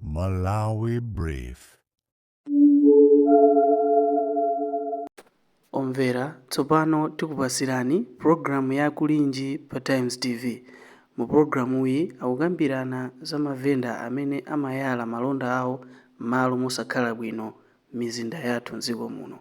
Malawi Brief. Omvera, tsopano tikupatsirani pulogalamu ya Kulinji pa Times TV. Mu pulogalamuyi akukambirana za mavenda amene amayala malonda awo m'malo mosakhala bwino m'mizinda yathu m'dziko muno.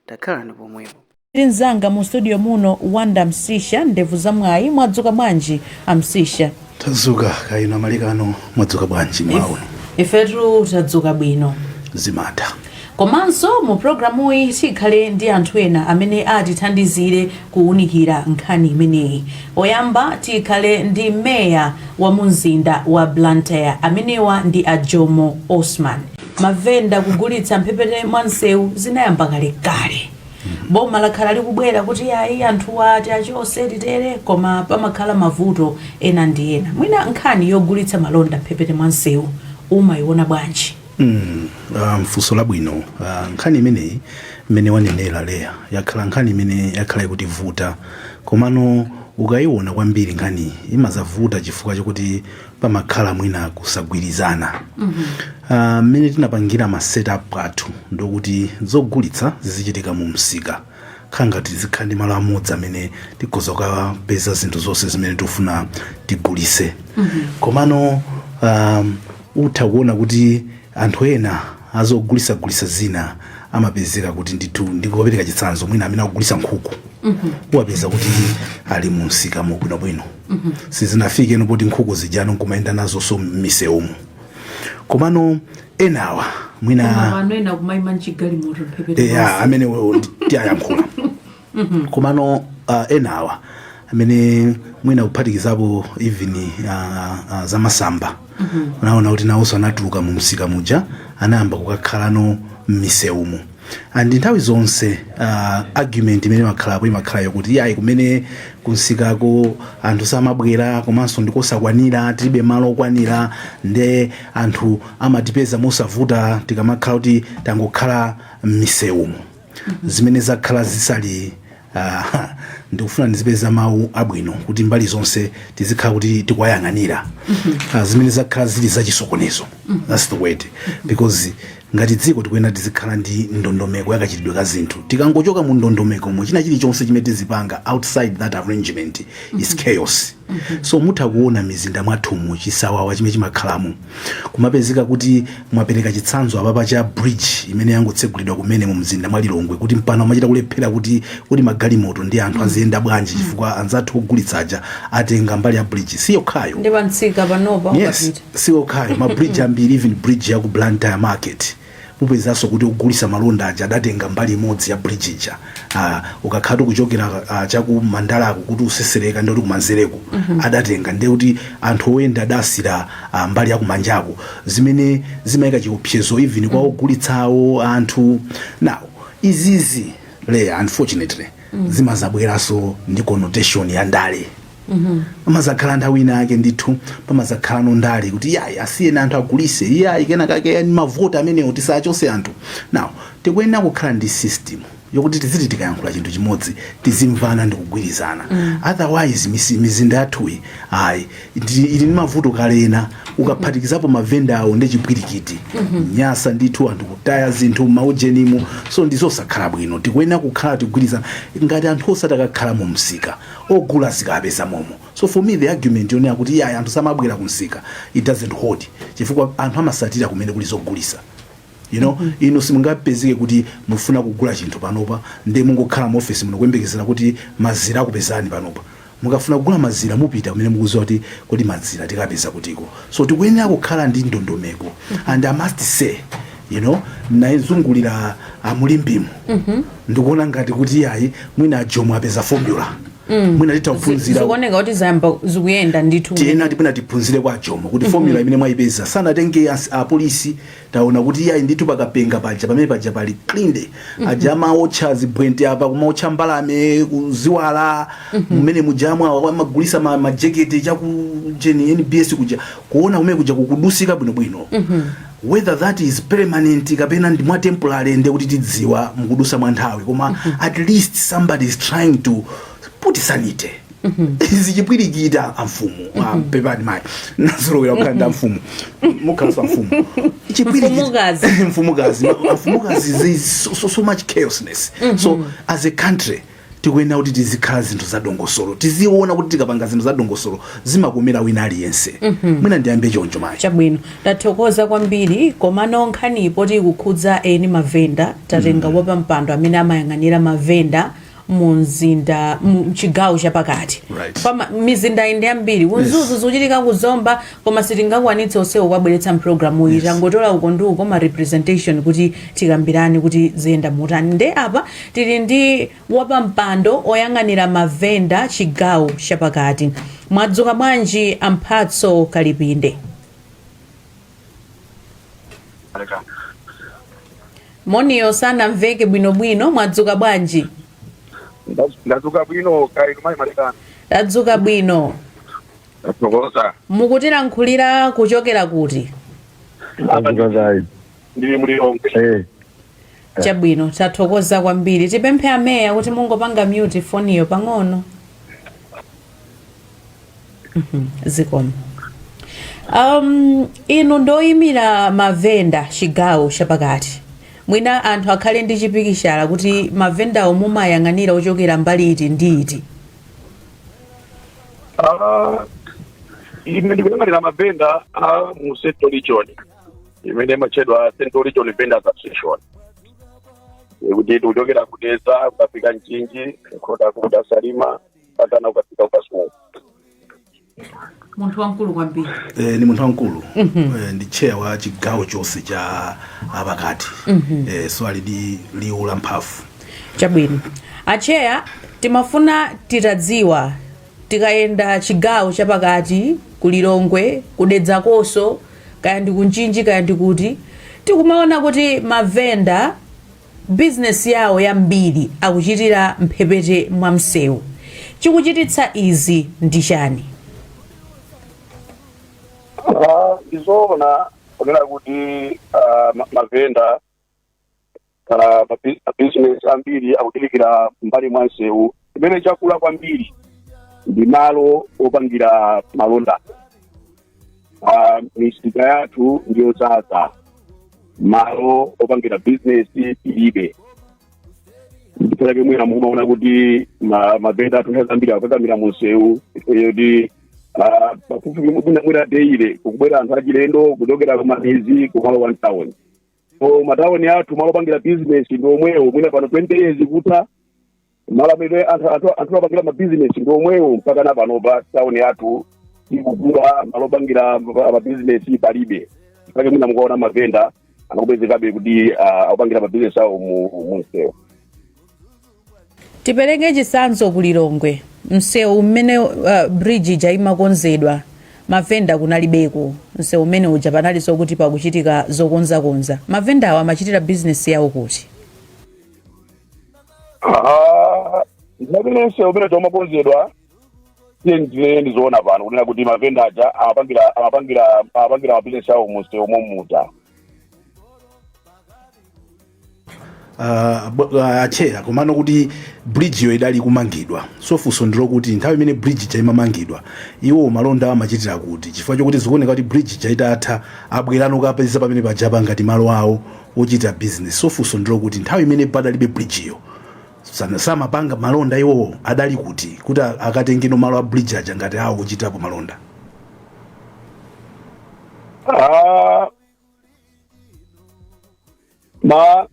Takhalani pomwepo. Ndi mnzanga mu studio muno Wanda Msisha, ndevu za mwayi, mwadzuka bwanji a Msisha? Tadzuka kaya inu amalikano mwadzuka bwanji mmawa uno? Ifetu tadzuka bwino. zimatha Komanso mu programuyi tikhale ndi anthu ena amene atithandizire kuwunikira nkhani imeneyi. Oyamba tikhale ndi meya wa mumzinda wa Blantyre amenewa ndi a Jomo Osman. Mavenda kugulitsa mphepete mwa msewu zinayamba kalekale. boma lakhala likubwera kuti ayi anthuwa tiachose titere koma pamakhala mavuto ena ndi ena mwina nkhani yogulitsa malonda mphepete mwa msewu umayiona bwanji Mm, ah, mfunso labwino Ah, nkhani imeneyi mmene wanenera Leya yakhala nkhani imene yakhala ikutivuta komano ukayiona kwambiri nkhani imazavuta chifukwa chokuti pamakhala mwina kusagwirizana Ah, mmene tinapangira ma setup athu ndokuti zogulitsa zizichitika mu msika khala ngati zikhala ndi malo amodzi amene tikhoza kukapeza zinthu zonse zimene tikufuna tigulitse komano um, utha kuona kuti anthu ena azogulitsagulitsa zina amapezeka kuti ndithu ndikupereka chitsanzo mwina amene akugulitsa nkhuku uwapeza kuti ali mu msika mubwinobwino sizinafike n'poti nkhuku zijanso nkumayenda nazonso m'misewumu komano enawa mwina mano ena kumayima mchigalimoto mphepete eya amene wo- ndi- tiyayankhula komano uh, enawa amene mwina kuphatikizapo even uh, uh, zamasamba unaona kuti nawonso anatuluka mu msika muja anayamba kukakhalano m'misewumo and nthawi zonse uh, argument imene imakhalapo imakhala yokuti yayi kumene kumsikako anthu samabwera komanso ndikosakwanira tilibe malo okwanira nde anthu amatipeza mosavuta tikamakhala kuti tangokhala m'misewumu zimene zakhala zisali Uh, ndikufuna ndizipeza mawu abwino kuti mbali zonse tizikhala kuti tikuwayang'anira uh, zimene zakhala zili zachisokonezo that's the word because ngati dziko tikuyenera tizikhala ndi ndondomeko yakachitidwe ka zinthu tikangochoka mu ndondomekomo china chilichonse chimene tizipanga outside that arrangement is chaos so mutha kuona mizinda mwathumu chisawawa chimene chimakhalamo kumapezeka kuti mwapereka chitsanzo apapa cha bridge imene yangotsegulidwa kumene mu mzinda wa lilongwe kuti mpano amachita kulephera kuti kodi magalimoto ndi anthu aziyenda bwanji chifukwa anzathu ogulitsa aja atenga mbali ya bridge si yokhayo ndi pamtsika panopa yes ukapita si okhayo ma bridge ambiri even bridge ya ku blantyre market Upezanso kuti ogulisa malonda aja adatenga mbali imodzi ya bridge ija aa ukakhalatu kuchokera aa chaku mandalako kuti utsetsereka ndekuti kumanzereko adatenga ndekuti anthu oyenda adasira aa mbali yakumanjako zimene zimayika chiopsezo even kwa ogulitsawo anthu now izizi Leah unfortunately zimazabweranso ndi connotation ya ndale. pamazakhala nthawi ina yake ndithu pamazakhala ndi ndale kuti yayi asiyeni anthu agulise iyayi kena kake yani mavoti amenewo tisachose anthu now tikuyenera kukhala ndi system yokuti tiziti tikayankhula chinthu chimodzi tizimvana ndi kugwirizana otherwise misi- mizinda yathuyi ayi ndi- ili ndi mavuto kale ena ukaphatikizapo mavenda awo ndi chipwirikiti nyansi ndithu anthu kutaya zinthu mmaujenimo so ndizosakhala bwino tikuyenera kukhala tigwirizane ngati anthu osati akakhala mu msika ogula azikapeza momo so for me the argument yonena kuti iyayi anthu samabwela ku msika it doesn't hold chifukwa anthu amasatira kumene kuli zogulisa you know mm -hmm. inu simungapezeke kuti mufuna kugula chinthu panopa nde mungokhala mu office muno kuyembekezera kuti mazira akupezani panopa mukafuna kugula mazira mupita kumene mukuziwa kuti kodi mazira tikapeza kutiko so tikuyenera kukhala ndi ndondomeko and i must say you know nayizungulira mu Limbemu ndikuona ngati kuti ayi mwina ajomo apeza formula mwina titaphunzira zikuoneka kuti zayamba zikuyenda ndithu tiena tipena tiphunzire kwa ajomo kuti formula imene mwayipeza sanatenge as- apolisi taona kuti iyayi ndithu pakapenga paja pamene paja pali clean aja amaotcha zibwente apa kumaotcha mbalame ziwala mmene mujamwe awa amagulisa ma- majekete chakujeni nbs kuja kuona kumene kuja kukudusika bwinobwino whether that is permanent kapena ndi mwa temporary nde kuti tidziwa mukudusa mwa nthawi koma at least somebody is trying to put sanity zachipwirikiti amfumu ah, pepani mayi nazolowera kukhala ndi amfumu mukhalanso amfumu Mfumukazi. mfumukazi amfumukazi there is so, so, so much chaosness so as a country Tikuyenera kuti tizikhala zinthu za dongosolo. Tiziona kuti tikapanga zinthu za dongosolo zimakomera wina aliyense. Mm -hmm. Mwina ndiyambe choncho mayi. Chabwino. Tathokoza kwambiri komano nkhani poti ikukhudza eni mavenda tatenga mm -hmm. wapampando amene amayang'anira mavenda mu mzinda mchigawo chapakati right. mizinda inde yambiri ku Mzuzu yes. zikuchitika ku Zomba Koma sitingakwanitse onsewo kuwabweretsa mpulogalamuyi tangotola uko ndi uko ma representation kuti tikambirane kuti ziyenda motani nde apa tili ndi wapampando oyang'anira mavenda chigawo chapakati mwadzuka bwanji a Mphatso Kalipinde moniyo sanamveke bwinobwino mwadzuka bwanji Ndadzuka bwino kaya inu mayi Malikana. tadzuka bwino Tathokoza. mukutilankhulira kuchokera kuti Ndili mu Lilongwe. Eh. chabwino tathokoza kwambiri tipemphe ameya kuti mungopanga mute foniyo pang'ono Mhm, zikomo um, inu ndoyimira mavenda chigawo chapakati mwina anthu akhale ndi chipikichala kuti mavendawo mumayang'anira ochokera mbali iti ndi iti Ah, ine ndikuyang'anira mavenda a mu central region imene imatchedwa central region vendors association kuti kuchokera ku Dedza ukafika Mchinji Nkhotakota Salima patana ukafika ku Kasungu munthu wamkulu kwambiri eh, ndi munthu wamkulu eh, ndi chair wa chigawo chonse chapakati eh, so ali ndi liwu lamphamvu chabwino acheya timafuna titadziwa tikayenda chigawo chapakati ku Lilongwe ku Dedza konse kaya ndi ku Mchinji kaya ndi kuti tikumaona kuti mavenda bizinesi yawo yambiri akuchitira mphepete mwa msewu chikuchititsa izi ndi chani Ah, ndizoona kunena kuti ah, ma- mavenda kapena mabi- mabizinesi ambiri akuchitikira mbali mwa msewu chimene chakula kwambiri ndi malo opangira malonda Ah, misika yathu ndi yodzaza malo opangira bizinesi tilibe ndi pake mwina mukumaona kuti ma- mavenda athu nthawi zambiri akukakamira mumsewu yoti ah, pafupi mwina mwina daily kukubwera anthu achilendo kuchokera kumamidzi kumalowa mtawuni so matawuni athu malo opangira bizinesi ndi omwewo mwina pano 20 years kutha malo amene anthu anthu- anthu apangira mabizinesi ndi omwewo mpaka na panopa tauni yathu ikukula malo opangira ma- mabizinesi palibe pake mwina mukuona mavenda akupezekabe kuti ah, akupangira mabizinesi awo mu mu msewu tipereke chitsanzo ku Lilongwe msewu mmene uh, bridge ija imakonzedwa mavenda kunalibeko msewu umene uja panalinso kuti pakuchitika zokonzakonza mavendawo amachitira bizinesi yawo kuti Ah, ndipo msewu umene unkakonzedwa tiyenjire ndizoonadi pano kunena kuti mavenda aja amapangira amapangira amapangira mabizinesi awo mumsewu momuja Ah, bo- ah, acheya komano kuti bridge yo idali kumangidwa so funso ndilo kuti nthawi imene bridge ija imamangidwa iwo malonda amachitira kuti chifukwa chokuti zikuoneka kuti bridge ija itatha abwerano kupeza pamene paja ngati malo awo wochitira business so funso ndilokuti nthawi imene padalibe bridge yo sana- samapanga malonda iwowo adali kuti kuti a- akatengeno malo a bridge aja ngati awo ochitapo malonda Ah, ma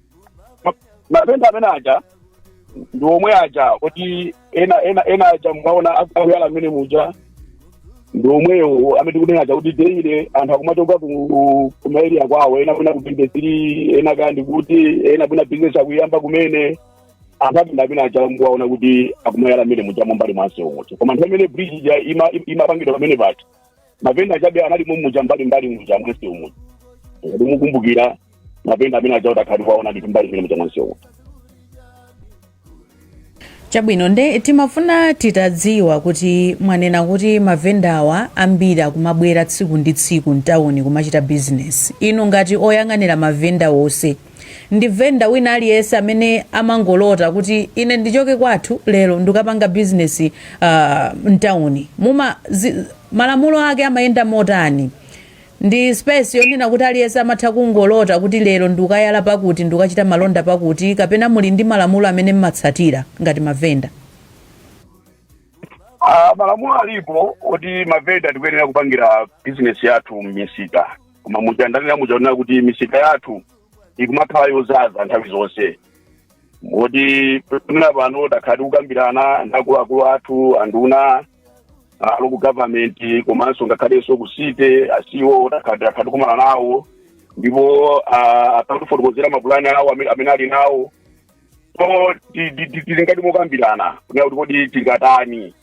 ma- mavenda amene aja ndi omwe aja kuti ena ena ena aja mukaona akuyala mmene muja ndi omwewo amene tikunena aja kuti daily anthu akumachoka ku ku maeria kwawo ena kwina ku industry ena kaya ndi kuti ena kwina bizinesi akuyamba kumene anthu atinda amene aja mukuwaona kuti akumayala mmene muja m'mbali mwa msewumo koma nthawi imene bridge ija ima- imapangidwa pamene paja mavenda ajabe anali momuja mbali mbali muja mwamsewumu ngati mukumbukira mavenda amene aja utakhala kuwaona ndi mbali mbali muja mwamsewumu chabwino nde timafuna titadziwa kuti mwanena kuti mavendawa ambiri akumabwera tsiku ndi tsiku mtawuni kumachita bizinesi inu ngati oyang'anira mavenda onse ndi vendor wina aliyense amene amangolota kuti ine ndichoke kwathu lero ndikapanga business uh, mtawuni muma zi, malamulo ake amayenda motani ndi space yonena kuti aliyense amatha kungolota kuti lero ndikayala pakuti ndikachita malonda pakuti kapena muli ndi malamulo amene mmatsatira ngati mavenda Ah, malamulo alipo oti mavenda tikuyenera kupangira bizinesi yathu m'misika koma muja ndanenera muja kunena kuti misika yathu ikumakhala yodzaza nthawi zonse moti pamene pano takhala tikukambirana ndi akuluakulu athu anduna a local government komanso ngakhalenso ku city a CEO takhala takhala tikumana nawo ndipo ah, akutifotokozera mapulani awo amene amene ali nawo so ti- ti- ti- tili ngati mokambirana kunena kuti kodi tingatani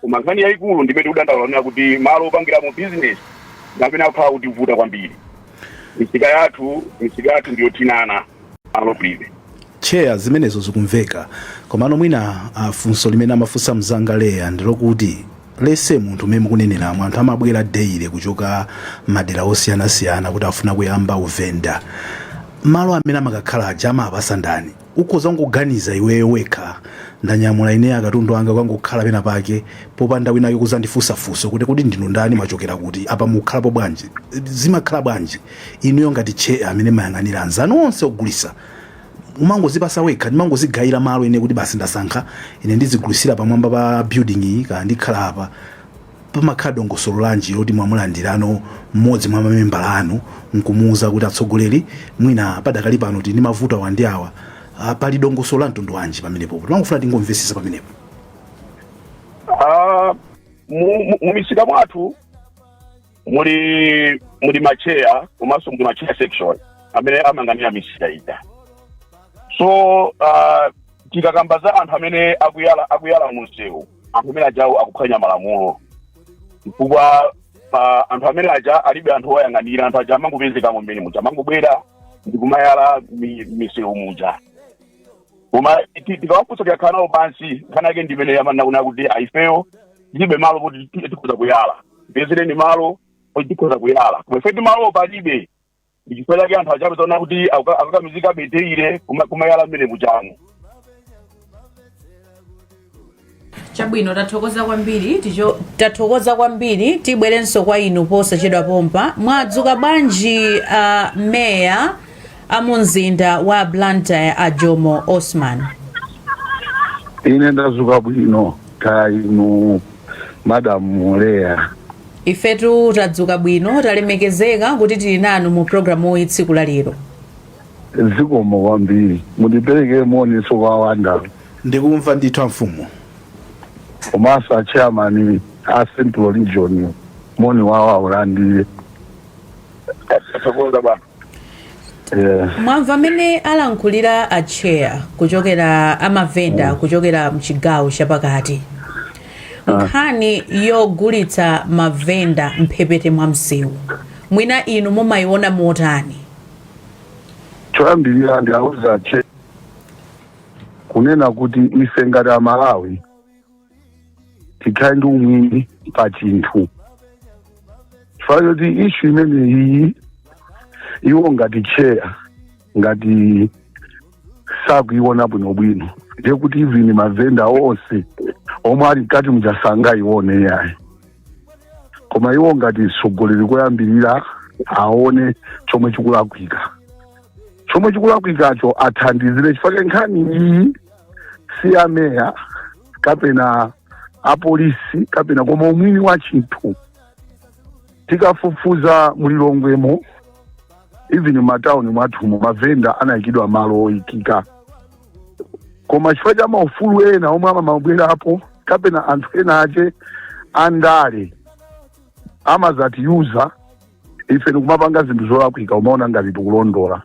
koma nkhani yayikulu ndimene ndadandaulanera kuti malo opangiramo business ndi amene akukhala akutivuta kwambiri misika yathu misika yathu ndiyothinana malo kulibe cheya zimenezo zikumveka komano mwina ah, funso limene amafunsa mzanga Leah ndilokuti aliyense munthu mmene mukuneneramu anthu amabwera daily kuchoka madera osiyanasiyana kuti afuna kuyamba uvenda malo amene amakakhala aja amawapatsa ndani ukhoza kungoganiza iweyo wekha ndanyamula ine akatundu anga kukangokhala pena pake popanda winake kuzandifunsa funso kuti kodi ndinu ndani machokera kuti apa mukukhalapo bwanji zimakhala bwanji inuyo ngati chair amene mayang'anira anzanu onse ogulisa umangozipasa wekha ndimangozigayira malo ine kuti basi ndasankha ine ndizigulisira pamwamba pa building iyi kaya ndikhala apa pamakhala dongosolo lanji loti mwamulandirano mmodzi mwa mamembala anu nkumuuza kuti atsogoleri mwina padakali pano tili ndi mavuto awa ndi awa Ah, pali dongosolo la mtundu wanji pamenepo timangofuna tingomvesesa pamenepo Ah, mu- mu- mumisika mwathu muli macheya komanso muli macheya section amene amayang'anira misika ija so ah, tikakamba za anthu amene akuyala akuyala munsewu anthu amene ajawo akuphwanya malamulo chifukwa anthu amene aja alibe anthu oyang'anira anthu aja amangopezekamo mmene muja amangobwera ndi kumayala mi- misewu muja koma ti- tikawafunsa tikakhala nawo pansi nkhani yake ndimene ya monga kunena kuti ah ifeyo tilibe malo kuti ti- tikhoza kuyala tipezereni malo kuti tikhoza kuyala koma ifetu malo palibe ndichifukwa chake anthu aja akuona kuti akuka- akukakamizika beteire kuma- kumayala mmene mujamo chabwino tathokoza kwambiri ticho tathokoza kwambiri tibwerenso kwa inu posachedwa pompa mwadzuka bwanji uh, meya a mumzinda wa blantyre a jomo osman ine ndadzuka bwino kaya inu madam Leah ifetu tadzuka bwino talemekezeka kuti tili nanu mu programu iyi tsiku la lero zikomo kwambiri mundiperekere moni nso kwa omwe akumva ndithu amfumu komanso achairman a central region moni wawo awulandire mwamva mmene alankhulira a chair kuchokera amavenda kuchokera mchigawo chapakati nkhani yogulitsa mavenda mphepete mwa msewu mwina inu mumayiona motani choyambirira ndiwauze a chair kunena kuti ife ngati amalawi tikhale ndi umwini pa chinthu chifukwa choti ishu imene iyi iwo ngati cheya ngati sakuiona bwinobwino ndiye kuti even mavenda onse omwe ali mkati muja sangaione yayi koma iwo ngati mtsogoleri koyambirira aone chomwe chikulakwika chomwe chikulakwikacho athandizire chifukwa nkhani iyi si ameya kapena apolisi kapena koma umwini wa chinthu tikafufuza mulilongwemo even mmatauni mwathumo mavenda anayikidwa malo oyikika koma chifukwa cha maufulu ena omwe amamabwerapo kapena anthu ena ache andale amazatiuza ife nikumapanga zinthu zolakwika kumaona ngati tikulondola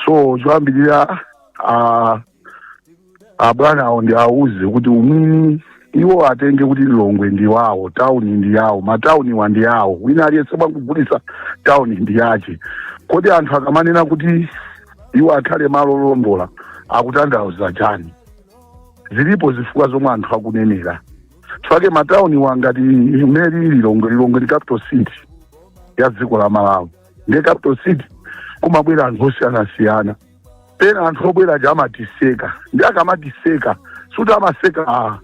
so choyambirira a- abwana awo ndi auze kuti umwini iwo atenge kuti lilongwe ndi wawo tauni ndi yawo matauniwa ndi awo wina aliyense amene akugulisa tauni ndi yache kodi anthu akamanena kuti iwo akhale malo olondola akutanthauza chani zilipo zifukwa zomwe anthu akunenera chifukwa matauniwa ngati mmene lilongwe lilongwe ndi capital city ya dziko la malawi ndiye capital city kumabwera anthu osiyanasiyana pena anthu obwera aja amatiseka ndi akamatiseka sikuti amaseka ah,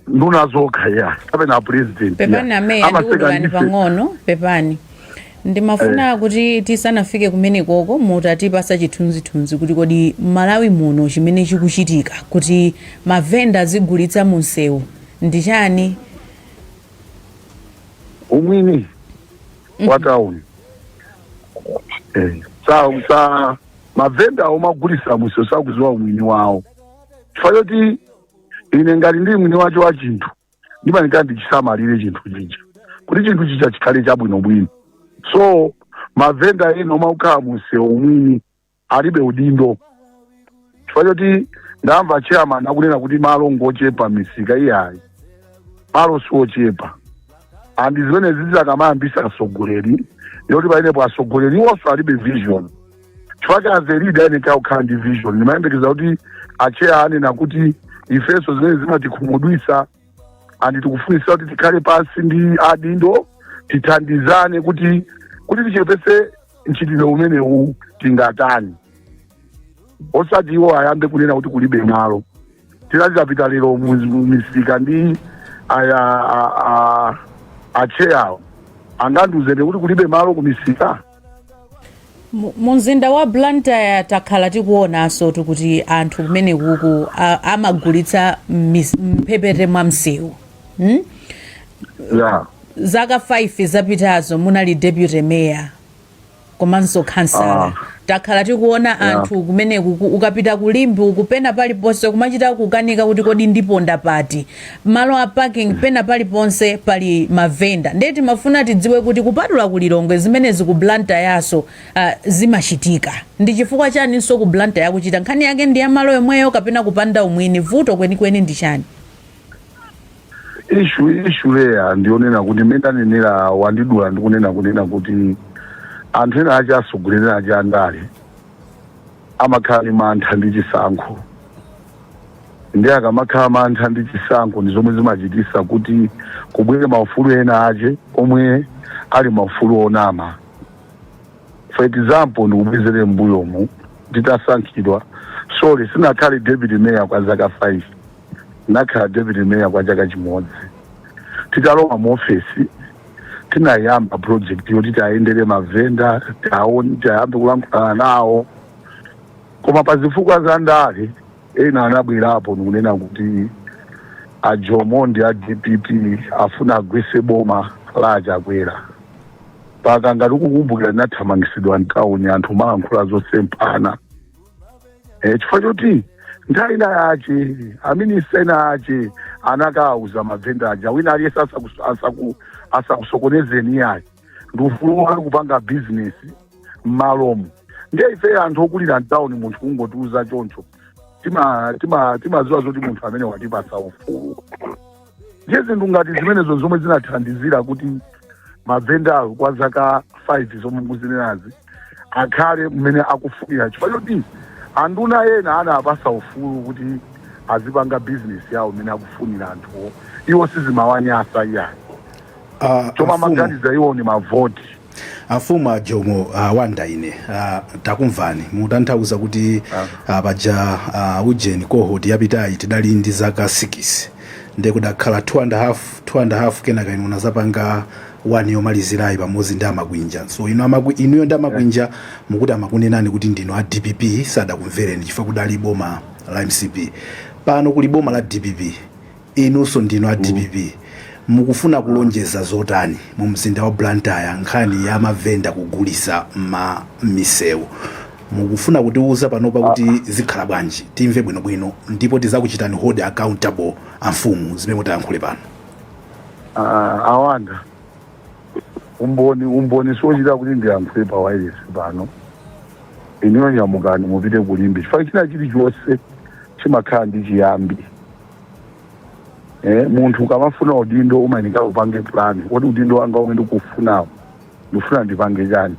nduna zokha ayi kapena apresident pepani ameya ndikudulani pang'ono pepani ndimafuna kuti tisanafike kumenekoko mutipase chithunzithunzi kuti kodi malawi muno chimene chikuchitika kuti mavenda azigulitsa mu msewu ndi chani umwini wa town Eh, sa sa mavenda omwe akugulisa mumsewu sakuziwa umwini wawo chifukwa choti ine ngati ndili mwini wacho wa chinthu ndimayenera ndichisamalire chinthu chija kuti chinthu chija chikhale chabwinobwino so mavenda ena omwe akukhala musewu umwini alibe udindo chifukwa choti ndawamva achairman akunena kuti malo ngochepa mmisika iyayi malo siochepa and zimenezizi akamayambisa atsogoleri ndiye kuti pamenepo atsogoleri iwonso alibe vision chifukwa cha as a leader ayeneka kukhala ndi vision ndimayembekeza kuti acheya anena kuti ifenso zimene zimatikhumudwisa andi tikufunisa kuti tikhale pansi ndi adindo tithandizane kuti kuti tichepese mchitidwe umenewu tingatani osati iwo ayambe kunena kuti kulibe malo tinati titapita lero mu- mu misika ndi aya a- a- acheyawo angandiuze kuti kulibe malo ku misika Mu- mu mzinda wa blantyre takhala tikuonanso kuti anthu kumenekuku a- amagulitsa m'mis- m'mphepete mwa msewu hmm? ya zaka 5 zapitazo munali deputy mayor komanso khansala Ah. takhala tikuona anthu kumeneku ku- ukapita ku limbe uku pena paliponse kumachita kukanika kuti kodi ndiponda pati malo a parking pena paliponse pali mavenda nde timafuna tidziwe kuti kupatula ku Lilongwe zimenezi ku Blantyreso uh, zimachitika ndi chifukwa chaninso ku Blantyre ikuchita nkhani yake ndi ya malo yomweyo kapena kupanda umwini vuto kwenikweni ndi chani issue issue ilipo ndi yonena kuti mmene anenera wandidula ndikunena kunena kuti anthu ena ake asogoleri ake andale amakhala ndi mantha ndi chisankho nde akamakhala mantha ndi chisankho ndi zomwe zimachitisa kuti kubwere maufulu ena ake omwe ali maufulu onama for example ndikubwezere mbuyomu nditasankhidwa sorry sinakhale deputy mayor kwa zaka 5 Ndinakhala deputy mayor kwa chaka chimodzi. Titalowa mu office tinayamba project yoti tiayendere mavenda, tiyambe kulankhulana nawo. Koma pa zifukwa za ndale ena anabwerapo ndikunena kuti a Jomo ndi a DPP afuna agwese boma la a Chakwera. Mpaka ngati mukukumbukira ndinathamangisidwa mtauni anthu amalankhula zosemphana. e, chifukwa choti nthawi ina yake aminista ena ake anakawauza mavenda aja wina aliyese asaku- asaku- asakusokonezeni iyayi ndi ufulu wanu kupanga bizinesi mmalomo ndiye ife anthu okulira mtawuni munthu kungotiuza choncho timaziwa tima, tima timaziwa zoti munthu amene watipasa ufulu ndiye zinthu ngati zimenezo zomwe zinathandizira kuti mavendawo kwa zaka 5 zomwe mukuzinenazi akhale mmene akufunira chifukwa choti anduna ena anawapasa ufulu kuti azipanga bizinesi yawo mmene akufunira anthuwo iwo sizimawanyasa iyayi Ah, chomwe amaganiza iwo ni mavoti Amfumu a Jomo ah, Wanda ine ah, takumvani mutanthauza kuti ah, paja ah, ujeni cohort yapitayi tidali ndi zaka 6 nde kudakhala 2 and a half 2 and a half kenaka inu unazapanga 1 yomalizirayi pamodzi ndi a Makwinja so inu amakwi, inuyo ndi a Makwinja mukuti amakunenani kuti ndinu a dpp sadakumvereni chifukwa kudali boma la mcp pano kuli boma la dpp Inunso ndinu a dpp mukufuna kulonjeza zotani mu mzinda wa Blantyre nkhani ya mavenda kugulisa mma mmisewu mukufuna kutiuza panopa kuti zikhala bwanji timve bwino bwino ndipo tizakuchitani hold accountable amfumu zimene mutayankhule pano. Ah, a Wanda umboni umboni siochita kuti ndiyankhule pa wireless pano inuyo nyamukani mupite ku Limbe chifukwa china chilichonse chimakhala ndi chiyambi eh, munthu ukamafuna udindo umayeneka upange plan kuti udindo wanga umene ndikufunawo ndikufuna ndipange chani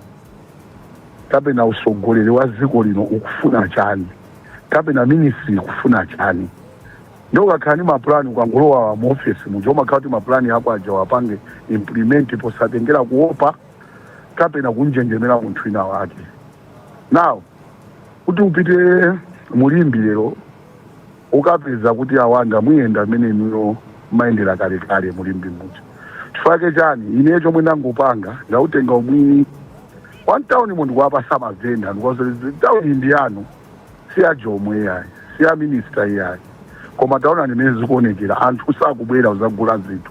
kapena usogoleri wa dziko lino ukufuna chani kapena ministry ikufuna chani nde ukakhala ndi mapulani ukangolowa mu ofesi muja umakhala kuti mapulani ako aja wapange implement posatengera kuopa kapena kunjenjemera munthu wina wake now kuti upite mu Limbe lero ukapeza kuti awanga muyenda mumene inuyo mmayendera kalekale mu Limbe muja chifukwa chake chani ine chomwe ndangopanga ndautenga umwini wa mtaunimo ndikuwapatsa mavenda ndikuwauza look this tauni ndi yanu si ya Jomo iyayi si ya minista iyayi koma tauni mmene ikuonekera anthu sakubwera kuzagula zinthu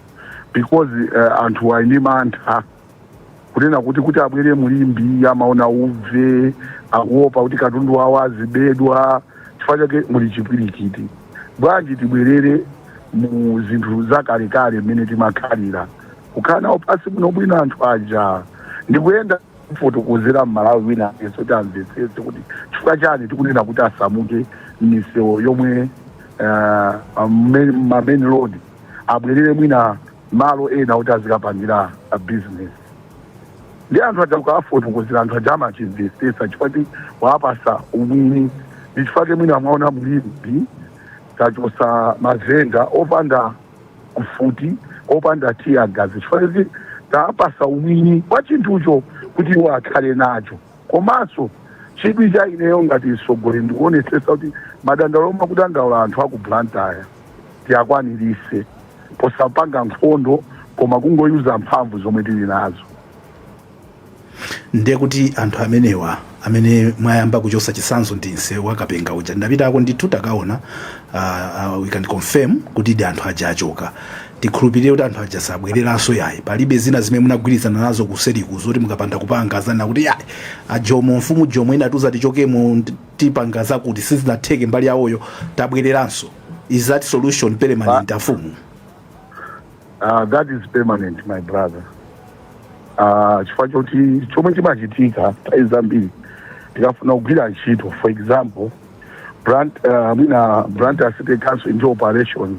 because uh, anthu ali ndi mantha kunena kuti kuti abwere mu Limbe amaona uve akuopa kuti katundu wawo azibedwa chifukwa chake muli chipwirikiti bwanji tibwerere mu zinthu zakalekale mmene timakhalira kukhala nawo pansi bwinobwino anthu aja ndikuyenda kufotokozera mmalawi wina aliyense kuti amvetsetse kuti chifukwa chani tikunena kuti asamuke mmisewu yomwe uh, main road abwerere mwina malo ena kuti azikapangira business ndi anthu aja ukawafotokozera anthu aja amachimvetsetsa chifukwa choti wawapatsa umwini ndi chifukwa chake mwina mwaona mu Limbe tachotsa mavenda opanda mfuti opanda tear gas chifukwa kuti tawapatsa umwini wa chinthucho kuti iwo akhale nacho Komanso chidwi cha ineyo ngati mtsogoleri ndikuonetsetsa kuti madandaulo omwe akudandaula anthu aku Blantyre tiakwanilitse posapanga nkhondo koma kungo user mphamvu zomwe tili nazo. ndekuti anthu amenewa amene mwayamba kuchotsa chitsanzo ndi nsewu wa Kapenga uja ndinapitako ndithu takaona uh, uh, we can confirm kutidi anthu aja achoka Tikhulupirire kuti anthu aja sabwereranso yayi, palibe zina zimene munagwirizana nazo kuseriku zoti mukapanda kupanga azanena kuti yayi a Jomo, mfumu Jomo inatiuza tichokemo nde tipanga zakuti sizinatheke mbali yawoyo tabwereranso is that solution permanent afumu? ah, that is permanent my brother. Ah, chifukwa choti chomwe chimachitika nthawi zambiri tikafuna kugwira ntchito for example Blant, uh, mwina Blantyre city council ndi operations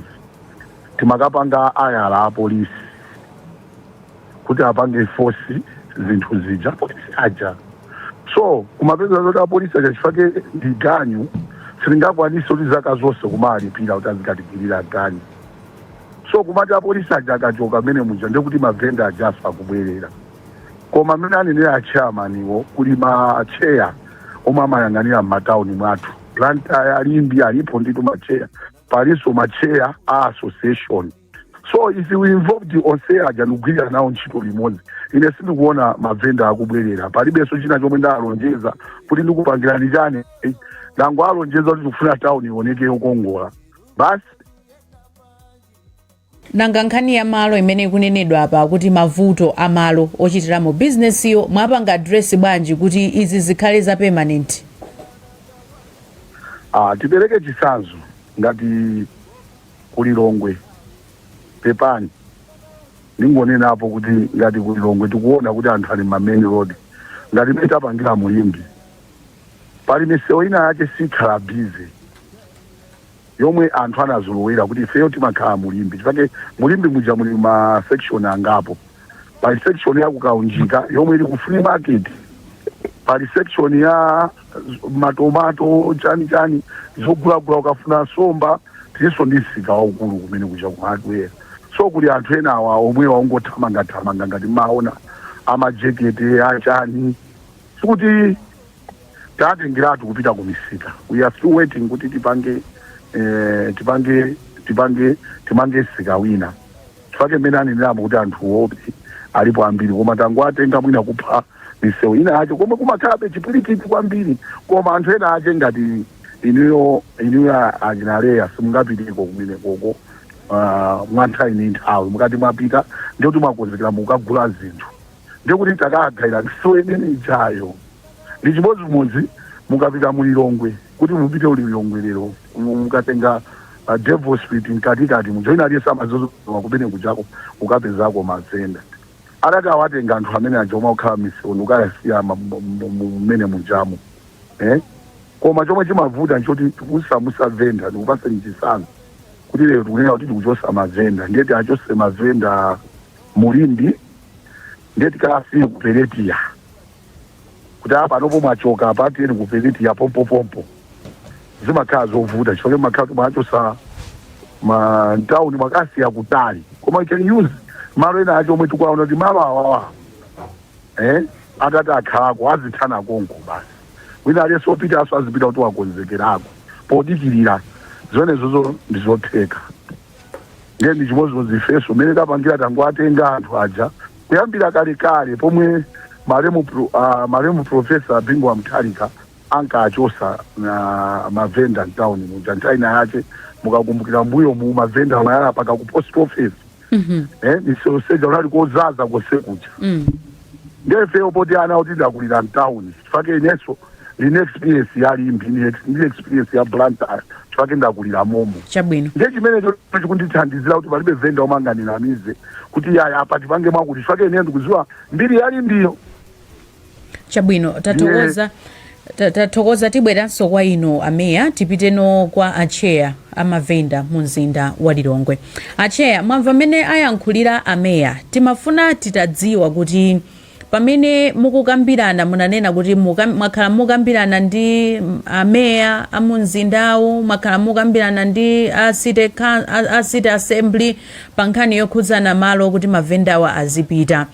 timakapanga hire apolisi kuti apange force zinthu zija apolisi aja so kumapeza zoti apolisi aja chifake ndi ganyu sitingakwanitse kuti zaka zonse kumawalipira kuti azikatigwirira ganyu so kumati apolisi aja akachoka mmenemuja ndekuti mavenda ajaso akubwerera koma mmene anenera achairmaniwo kuli matcheya omwe amayang'anira m'matauni mwathu Blantyre ya Limbe alipo ndithu matcheya palinso ma chair a association so if we involved onse aja ndikugwirira nawo ntchito limodzi ine sindikuona mavenda akubwerera palibenso china chomwe ndalonjeza kuti ndikupangirani chani Eh, ndangowalonjeza kuti tikufuna tawuni ioneke yokongola basi nanga nkhani ya malo imene ikunenedwa apa kuti mavuto a malo ochitiramo bizinesiyo mwapanga adiresi bwanji kuti izi zikhale za permanent Ah, tipereke chitsanzo ngati kulilongwe pepani ndingonenapo kuti ngati kulilongwe tikuona kuti anthu ali m'ma main road ngati mmene tapangira mu Limbe pali misewu ina yake siikhala busy yomwe anthu anazolowera kuti ifeyo timakhala mu Limbe chifukwa mu Limbe muja muli ma section angapo. Pali section ya ku Kaunjika yomwe ili ku flea market. Pali section ya matomato chani chani zogulagula ukafuna somba tilinso ndi msika waukulu kumene kuja ku hardware. So kuli anthu ena awa omwe amangothamangathamanga ngati mmaona amajekete achani sikuti tatengeratu kupita ku misika we are still waiting kuti tipange eh, tipange tipange timange msika wina chifukwa mmene aneneramo kuti anthu alipo ambiri koma tangoatenga mwina kupha misewu ina yache komwe kumakhalabe chipwirikiti kwambiri koma anthu ena ache ngati inuyo inuyo a- achinaleya simungapiteko kumene koko ah, mwa nthawi ndi nthawi mukati mwapita ndikuti mwakonzekera mukagula zinthu ndiye kuti takagawira misewu imene ijayo ndi chimodzimodzi mukapita mu lilongwe kuti mupite ku lilongwe lero mu- mukatenga uh, devil street mkatikati muja wina aliyense amadziwa kumene kujako ukapezako mavenda atati awatenga anthu amene aja omwe akukhala m'misewu kukawasiya ma- mu- mu- mu- mmene mujamo eh? koma chomwe chimavuta nchoti kusamusa venda ndikupaseni chisanzo kuti lero tikunena kuti tikuchosa mavenda ndiye tiachose mavenda mu Limbe ndiye tikawasiye ku Peretiya kuti apa panopo mwachoka apa tiyeni ku Peretiya pompopompo zimakhala zovuta chifukwa zimakhala kuti mwawachosa mtawuni mwakasiya kutali koma you can use malo ena ache omwe tikuwaona kuti malo awawa eh atati akhalako azithana konko basi wina aliyense opita naso azipita kuti wakonzekerako podikirira zimenezozo ndizotheka ndiye ndi chimodzimodzi ifenso mmene tapangira tangowatenga anthu aja kuyambira kalekale pomwe malemu pro- ah, malemu profesa bingu wa mutharika ankachosa na mavenda mtown muja nthawi ina yache mukakumbukira mbuyomu mavenda amayala paka ku post office eh, misewu yonse ija kunali kozaza konse kuja Mm. Ndiye ifeyo poti ana oti ndakulira mtown chifake inenso ndine experience ya Limbe ndine ex- ndine experience ya Blantyre chifake ndakulira momo. chabwino Ndiye chimenecho chikundithandizira kuti palibe venda omwe angandinamize kuti iyayi apa tipange mwakuti chifake ine ndikuziwa mbiri ya Limbiyo. chabwino tathokoza Tathokoza tibweranso kwa inu a Mayor tipiteno kwa a Chair a ma Vendor mu mzinda wa Lilongwe. A Chair mwamva mmene ayankhulira a Mayor timafuna titadziwa kuti pamene mukukambirana munanena kuti mwakhala mukukambirana ndi a Mayor a mu mzindawu, mwakhala mukukambirana ndi a City a City Assembly pa nkhani yokhudzana malo kuti ma Vendor-wa azipita.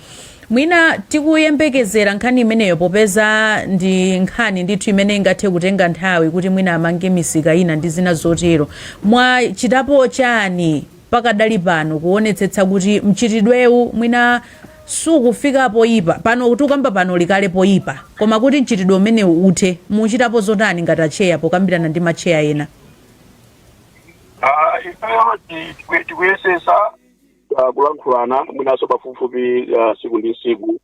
Mwina tikuyembekezera nkhani imeneyo popeza ndi nkhani ndithu imene ingathe kutenga nthawi kuti mwina amange misika ina ndi zina zotero. Mwachitapo chani pakadali pano kuonetsetsa kuti mchitidwewu mwina sukufika poyipa? Pano tikukamba pano uli kale poyipa koma kuti mchitidwe umenewu uthe muchitapo zotani ngati atcheya pokambirana ndi matcheya ena? Ifeyo tikuyesetsa. ah, kulankhulana mwinanso pafupifupi ah, siku ndi siku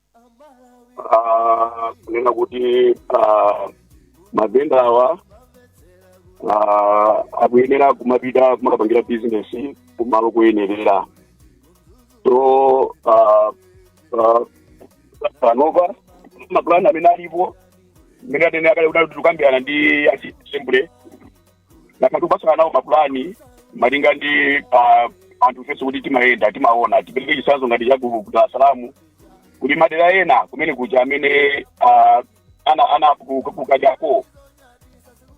Ah, kunena kuti ah, mavenda awa ah, akuyenera kumapita kumakapangira bizinesi kumalo kuyenerera so ah, ah, panopa mapulani amene alipo mmene ndanena kale kuti tikukambirana ndi a City Assembly takhala tikupatsana nawo mapulani malinga ndi ah, anthu fenso kuti timayenda timaona tipereke chisanzo ngati cha ku ku Dar es Salaam kuti madera ena kumene kuja amene ah, ana ana ku- ku- kukajako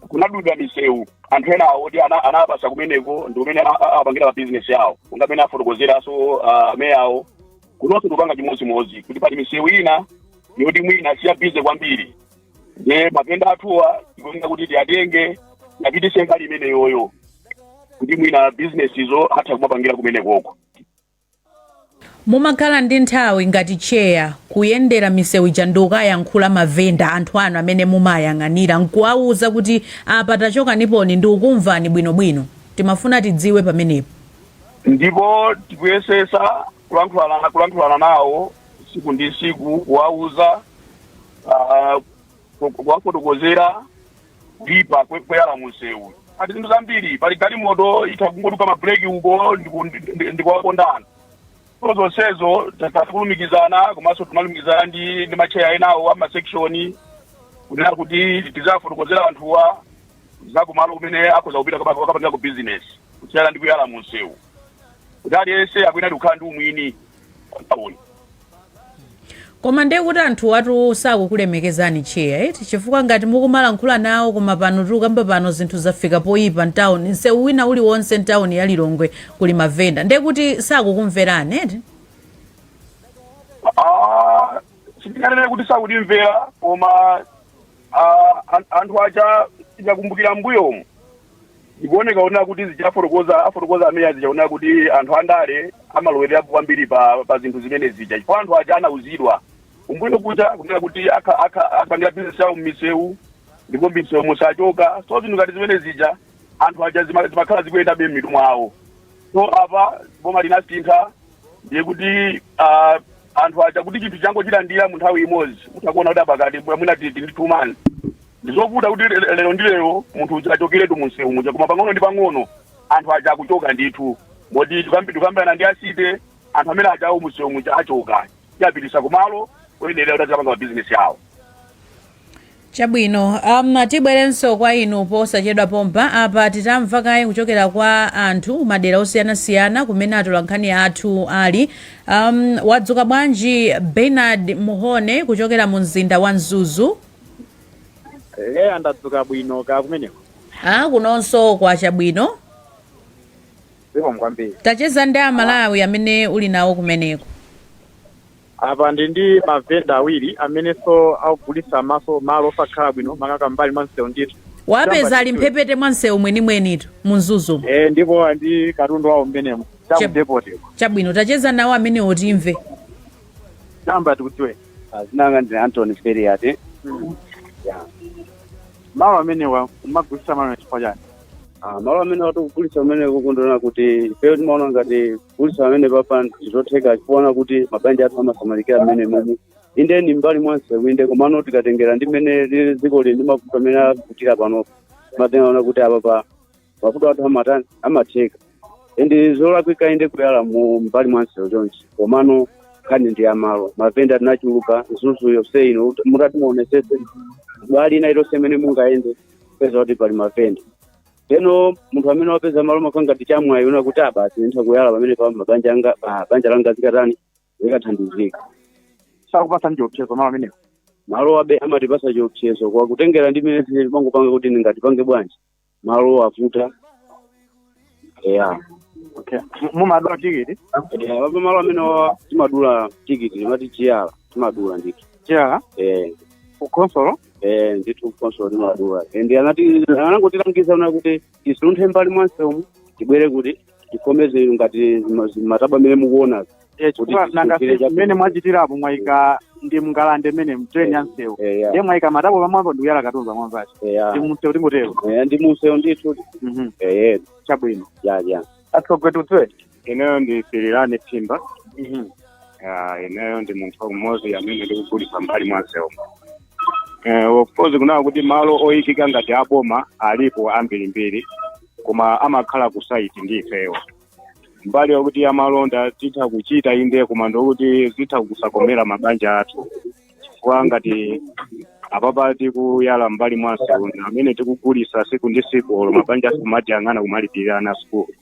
kunadulidwa misewu anthu ena oti ana- anapasa kumeneko ndi kumene a- a- apangira mabizinesi yawo monga mmene afotokozeranso ah, meya awo kunonso tikupanga chimodzimodzi kuti pali misewu ina yoti mwina siyabize kwambiri ndiye mavenda athuwa tikuyenera kuti tiyatenge apitise mbali imeneyoyo kuti mwina bizinesizo atha kumapangira kumenekoko mumakhala ndi nthawi ngati cheya kuyendera misewu ija ndi kukayankhula mavenda anthu anu amene mumayang'anira nkuwawuza kuti apa tachokaniponi ndi kukumvani bwinobwino timafuna tidziwe pamenepo ndipo tikuyesesa kulankhulana kulankhulana nawo tsiku ndi tsiku kuwauza ah, ku- kuwafotokozera kuipa kwe- koyala munsewu ati zinthu zambiri pali galimoto itha kungoduka mabuleki uko ndiku- ndi- ndi- ndikuwaponda anthu so zonsezo takhala tikulumikizana komanso timalumikizana ndi ndi macheya enawo a masekshoni kunena kuti tiziwafotokozera anthuwa zakumalo kumene akhoza kupita kukapangako bizinesi kusiyana ndi kuyala munsewu kuti aliyense akuyenera kukhala ndi umwini Kutawuni. koma ndiye kuti anthu anu sakukulemekezani cheya eti chifukwa ngati mukumalankhula nawo koma pano tikukamba pano zinthu zafika poyipa mtawuni nsewu wina uliwonse mtawuni ya lilongwe kuli mavenda ndiye kuti sakukumverani eti Ah, sindinganene kuti sakutimvera koma ah, an- anthu aja tikakumbukira mbuyomu Zikuoneka kunena kuti zija afotokoza afotokoza ameya zija onena kuti anthu andale amalowererapo kwambiri pa pa zinthu zimene zija chifukwa anthu aja anauzidwa kumbuyo kuja kunena kuti akha- akha- akapangire bizinesi yawo m'misewu ndipo m'misewu musachoke so zinthu ngati zimene zija anthu aja zima- zimakhala zikuyendabe m'mitu mwawo so apa boma linasintha ndiye kuti ah, anthu aja kuti chinthu changochilandira mu nthawi imodzi mukaona kuti apakati mwina titi ndi two months Ndizovuta kuti lero ndi lero munthu uja achokeretu munsewu muja koma pang'ono ndi pang'ono anthu aja akuchoka ndithu moti tikambirana ndi a city anthu amene achawo munsewu muja achoka tiwapititsa kumalo oyenera kuti azikapanga mabizinesi awo chabwino um, tibwerenso kwa inu posachedwa pompa apa titamva kaye kuchokera kwa anthu madera osiyanasiyana kumene atolankhani athu ali um, wadzuka bwanji bernard muhone kuchokera mu mzinda wa mzuzu Eya ndadzuka bwino kaya kumeneko. a kunonso kwacha bwino Zikomo kwambiri. tacheza ndi amalawi amene uli nawo kumeneko Apa ndili ndi mavenda awiri amenenso akugulitsa maso malo osakhala bwino makamaka m'mbali mwa msewu ndithu. wapeza ali mphepete mwa msewu mwenimwenitu mu mzuzu Eh ndipo ndi katundu wawo mmenemo. Chep- Cha mu depoti ko. chabwino tacheza nawo amenewo timve Tayamba tikudziwe. Dzina langa ndi Anthony Feriate. Yeah. Malo amenewa kumagulitsa malonda chifukwa chani? Ah, malo amenewa tikugulitsa kumeneku kunena kuti ifeyo timaona ngati kugulitsa pamenepapa ndizotheka chifukwa kuti mabanja athu amasamalika mmenemomo inde ni mbali mwanse winde komano tikatengera ndi mmene lili dziko lili ndi mavuto amene akuvutira panopo timatenga kuona kuti apapa mavuto athu amatani amatheka nde zolakwika inde kuyala mu mbali mwa msewu chonchi komano nkhani ndi yamalo mavenda tinachuluka mzuzu yonse ino mutati muonesese mbali ina iliyonse imene mungayende mupeza kuti pali mavenda tsono munthu amene wapeza malo amakhala ngati chamwayi kunena kuti ah basi nditha kuyala pamene pa mabanja anga ah, banja langa zikatani zikathandizika sakupatsa chiopsezo malo amenewa malowa be amatipatsa chiopsezo kwa kutengera ndi mmene zimene timangopanga kuti ndingatipange bwanji malo avuta eya okay M- mumadula tikiti Eh, apa malo amene wa- timadula tikiti timati chiyala timadula ndithu chiyala Eh, ku khonsolo eh, ndithu khonsolo timadula and anati anangotilangiza kunena kuti tisunthe m'mbali mwa nsewu tibwere kuti tikomeze inu ngati ma- matabwa amene mukuona Eh, chifukwa Kuti nanga tifikire chakuti- mmene mwachitirapo mwayika ndi mngalande mmene m'drain ya nsewu eya ndiye mwayika matabwa pamwamba ndi kuyala katundu pamwamba pake eya ndi mumsewu tingotero eya ndi munsewu ndithu Mhm. eya chabwino ya ya atsogwetutwe ineyo ndi Pilirani Phimba Ah, ineyo ndi munthu umodzi amene ndikugulitsa mbali mwa msewu Eh, of course kunena kuti malo oyikika ngati aboma alipo ambirimbiri koma amakhala ku side ndi ifeyo mbali yokuti amalonda titha kuchita inde koma ndi yokuti zitha kusakomera mabanja athu chifukwa ngati apapa tikuyala mbali mwa msewu amene tikugulisa siku ndi siku olo mabanja athu kumatiyang'ana kumalipirira ana sukulu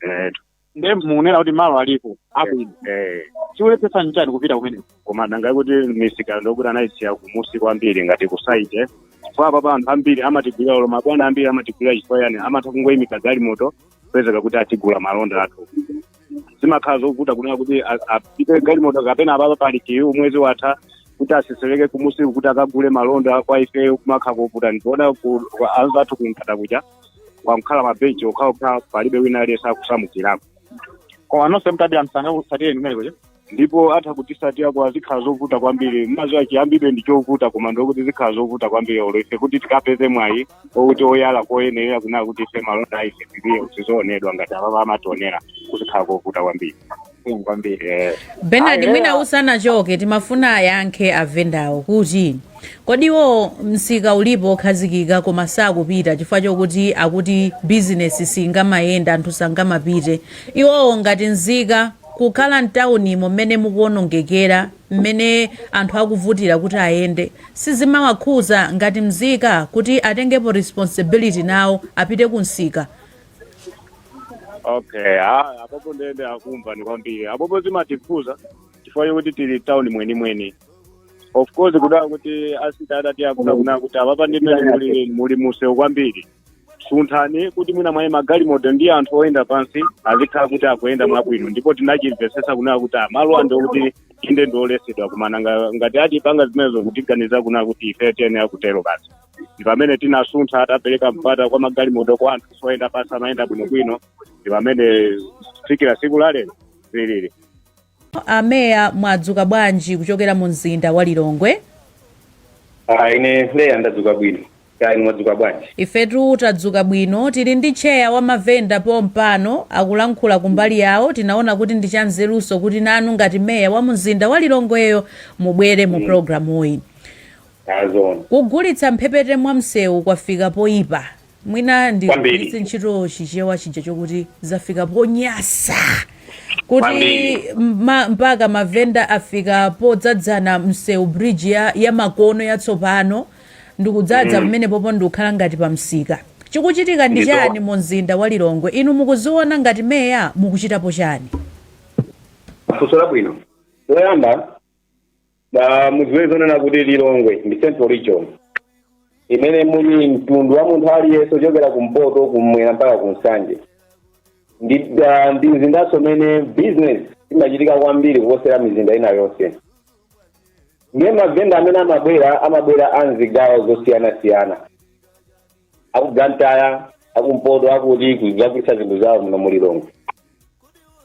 etu nde mukunena kuti malo alipo abwino eh chikulephetsa nchani kupita kumeneko koma nanga kuti misika ndi yokuti anayisiya kumusi kwambiri ngati ku side chifukwa apapa anthu ambiri amatigulira olo mabwana ambiri amatigulira chifukwa yani amatha kungoyimika galimoto kupezeka kuti atigula malonda athu zimakhala zovuta kunena kuti a- apite galimoto kapena apapa pali kiyu mwezi watha kuti aseseleke kumusi kuti akagule malonda kwa ifeyo kumakhala kovuta ndiona anzathu kungata kuja kwangokhala mabenchi okhaokha palibe wina aliyense akusamukirako koma nonse mtati amsanga kusatireni kumene kuja ndipo atha kutisatira koma zikhala zovuta kwambiri mazuwa chiyambidwe ndi chovuta koma ndi yokuti zikhala zovuta kwambiri olo ife kuti tikapeze mwayi okuti oyala koyenerera kunena kuti ife malonda a ife tili tizoonedwa ngati apapa amationera kuzakhala kovuta kwambiri zikomo kwambiri eh. Bernard Ayi, mwina eya. usanachoke timafuna ayankhe avendawo kuti kodi iwowo msika ulipo okhazikika koma sakupita chifukwa chokuti akuti bizinesi singamayende anthu sangamapite iwowo ngati nzika kukhala mtaunimo mmene mukuonongekera mmene anthu akuvutira kuti ayende sizimawakhuza ngati mzika kuti atengepo responsibility nawo apite ku msika okay ah, apopo ndende akumva ni kwambiri apopo zimatikhuza chifukwa chokuti tili town mwenimweni of course kunena kuti a city adati akunena kunena kuti apapa ndimene muli, muli mumsewu kwambiri sunthani kuti mwina mwayi magalimoto ndi anthu oyenda pansi azikhala kuti akuyenda mwabwino ndipo tinachimvesesa kunena kuti malo ano ndi kuti inde ndiolesedwa koma nga- ngati atipanga zimenezo kutiganizira kunena kuti ife tiyenera kutero basi ndi pamene tinasuntha tapereka mpata kwa magalimoto kwa anthuso oyenda pasi amayenda bwinobwino ndi pamene kufikira siku la lero zilili ameya mwadzuka bwanji kuchokera mu mzinda wa lilongwe Ah, ine meya ndadzuka bwino kaya inu mwadzuka bwanji ifetu tadzuka bwino tili ndi tcheya wa mavenda pompano akulankhula kumbali yawo tinaona kuti ndi chanzeruso kuti nanu ngati meya wa mzinda wa lilongweyo mubwere mu programuyi Kugulitsa mphepete mwa msewu kwafika poipa. Mwina ndigwiritse ntchito chichewa chija chokuti zafika ponyasa. Kuti ma, mpaka mavenda afika podzadzana msewu bridge ya, ya makono yatsopano ndikudzadza pamenepopo ndikukhala ngati pa msika. Chikuchitika ndi chani mu mzinda wa Lilongwe? Inu mukuziona ngati meya mukuchitapo chani? Funso labwino. Choyamba Ah, mudziwe zonena kuti Lilongwe ndi central region imene muli mtundu wa munthu aliyense ochokera kumpoto kumwera mpaka ku Nsanje ndi ah, ndi mzindanso umene business imachitika kwambiri kuposera mizinda ina yonse ndiye mavenda amene amabwera amabwera a mzigawo zosiyanasiyana aku Blantyre akumpoto akuti kudzagulitsa zinthu zawo muno mu Lilongwe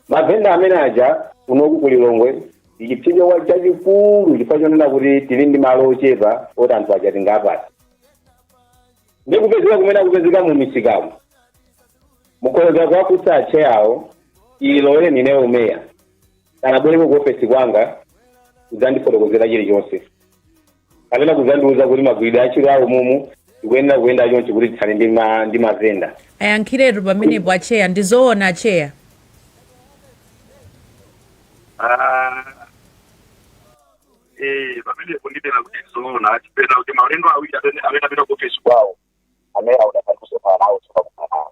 mavenda amene aja kunoku ku Lilongwe ndi chipsinjo chachikulu chifukwa chonena kuti tili ndi malo ochepa oti anthu aja tingawapatse ndi kupezeka kumene akupezeka mu misikamu mukhoza kuwafunsa acheya awo olo ineyo meya sanabwereko ku ofesi kwanga kudzandifotokozera chilichonse kapena kuzandiuza kuti magwiridwe a ntchito awo momwe tikuyenera kuyenda chonchi kuti tithane ndi ma- ndi mavenda ayankhiretu pamenepo acheya ndi zoona acheya Ah, eh, pamenepo ndinene kuti zoona chifukwa cha kuti maulendo awiri amene tinapita ku ofisi kwawo amene sitidakumane nawo osakumana nawo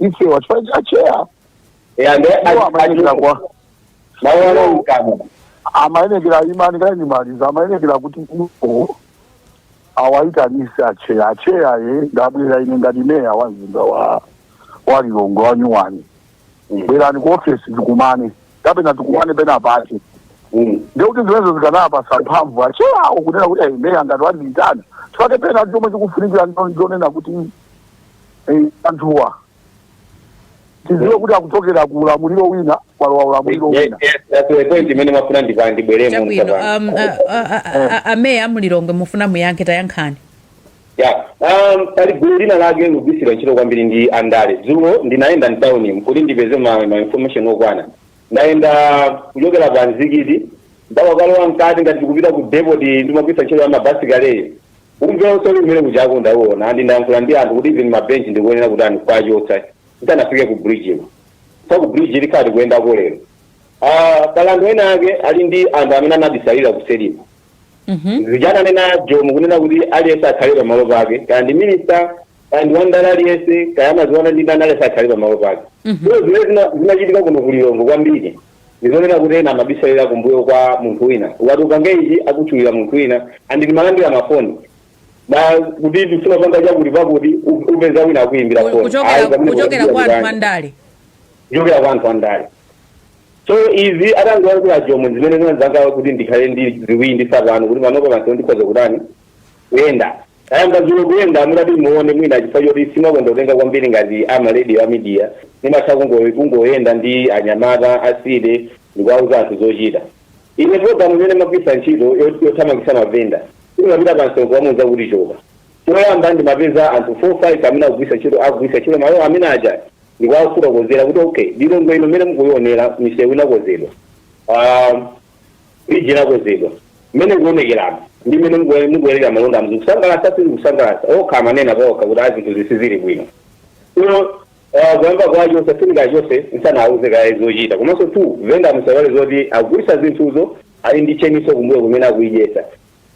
ife chifukwa cha acheya eya nde Iwo amayenera kwa mawu alomkana amayenekera imani kaye ndimalize amayenekera kuti iwo awayitanise acheya acheya ye ndabwera ine ngati meya wa mzinda wa wa Lilongwe wa nyuwani bwerani ku ofesi tikumane kapena tikumane penapake ndekuti zimenezo zikanawapasa mphamvu acheyawo kunena kuti ayi meya ngati wandiyitana chifukwa chake chomwe chikufunikira ndonena kuti Eh, anthuwa tiziwe kuti akuchokera ku ulamuliro wina kwalowa ulamuliro wina that's the point imene ndimafuna ndibweremo chabwino ndiye pano um, a- a- a- a- a- ameya a mu Lilongwe mufuna muyankhe tayankhani ya um, pali gulu lina lake likugwiritsidwa ntchito kwambiri ndi andale dzulo ndinayenda mtauni kuti ndipeze ma, ma information okwana ndayenda kuchokera pa mzikiti ndakalowa mkati ngati tikupita ku depoti ndimagwira ntchito ya mabasi kale ine Umve wonse uli kumene kujako ndawuwona and ndayankhula ndi anthu kuti even ma bench tikuyenera kutani kuwachotsa tisanafike ku bridge ino chifukwa ku bridge tikhala tikuyendako lero Ah, pali anthu ena ake ali ndi anthu amene anabisalira kuseri kwa Mhm. chija ananena Jomo kunena kuti aliyense akhale pamalo pake kaya ndi minista kaya ndi wandale aliyense kaya amaziona ndi ndani aliyense akhale pamalo pake so zimene zina- zinachitika kuno ku lilongwe kwambiri ndizonena kuti ena amabisalira kumbuyo kwa munthu wina ukati upange ichi akutchulira munthu wina andini malandira mafoni na kuti tifuna panga chakuti pakuti u- upeza wina akuyimbira Ku- foni kuchokera Ayi, pamene kuchokera kuchokera kwa anthu ndani? andale kuchokera kwa anthu andale so izi atangoyankhula a Jomo zimene zinapanga kuti ndikhale ndi chikhulupiriro tsopano kuti panopa pansi ndikhoza kutani kuyenda Ayamba dzulo kuyenda mutati muone mwina chifukwa choti simakonda kutenga kwambiri ngati a ma radio a media ndimatha kungo kungoyenda ndi anyamata a city ndikuwauza anthu zochita ine program imene ndimagwiritsa ntchito yo- yothamangitsa mavenda ndimapita pa msonkhano kumuuza kuti choka choyamba ndimapeza anthu 4 5 amene akugwiritsa ntchito akugwiritsa ntchito malo amene aja ndikuwafotokozera kuti okay lilongwe ino mmene mukuionera misewu inakonzedwa Ah, Bridge inakonzedwa. Mmene ikuonekeramu ndi mmene mukuwe- mukuyalira malondamu zikusangalatsa sizikusangalatsa okha amanena paokha kuti a zinthu zi sizili bwino ino uh, kuyamba kwacho usafunika chotsa munthu usana auze kaye zochita komanso tu venda musaiwale zoti akugulitsa zinthuzo ali ndi chain yonse kumbuyo kumene akuidyetsa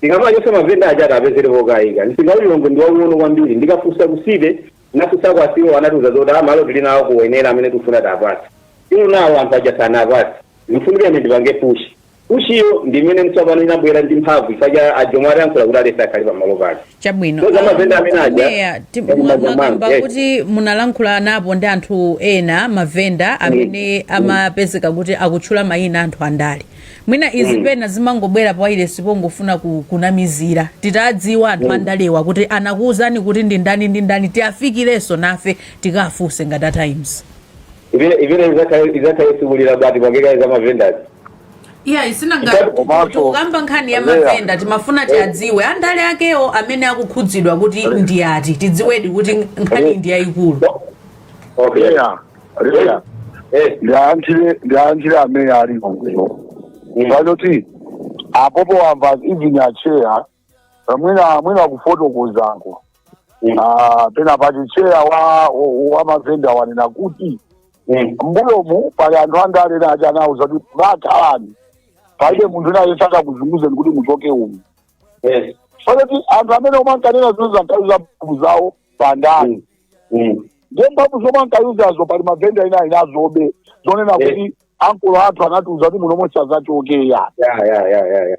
tikamachotsa mavenda aja tiapezere pokaika ndiye msika wa Lilongwe ndi waung'ono kwambiri ndikafunsa ku city ndinafunsa kwa CEO anatiuza zoti a malo tili nawo kuwenera amene tifuna tiapatse inu malo anthu aja sanapatsi Ndikufunika ine ndipange push. Push iyo ndi imene tsopano inabwera ndi mphamvu chifukwa ya a Jomo atayankhula kuti aliyense akhale pamalo pake. Chabwino. So mavenda amene aja Ameya ti- ndi mwa- manja mwanga. mwakamba Yes. kuti munalankhulanapo ndi anthu ena mavenda amene amapezeka kuti akutchula mayina anthu andale mwina izi pena zimangobwera pawayilesi pongofuna ku- kunamizira titadziwa anthu andalewa kuti anakuwuzani kuti ndi ndani ndi ndani tiafikirenso nafe tikafunse ngati a Times Imene imene izakhale izakhale tsiku lina but tipange kaye za mavendazi. iya isina ngati Chitatu komanso- tikukamba nkhani ya Andrea. mavenda timafuna tiadziwe andale akewo amene akukhudzidwa kuti ndi ati tidziwedi kuti nkhani ndi yayikulu Okay. Leya, leya. Eh. Ndiyankhire ndiyankhire ameya ali kuno. Mm. Chabwino apopo wamva even acheya Ah, mwina mwina kufotokozako Mm. Ah, pena pati cheya wa wa- wa mavenda wanena kuti Mm. mbuyomu pali anthu andale ena aja anauza kuti bakhalani palibe munthu wina azakusunthani kuti muchoke umu Yes. so that anthu amene omwe ankanena zinthu zankayika mphamvu zawo pa ndale Mm. Mm. ndiye mphamvu zomwe ankawauzazo pali mavenda ena inalowa zonena Yes. kuti akulu athu anatiuza kuti muno mu sazachoka Yeah, yeah, yeah, yeah, yeah.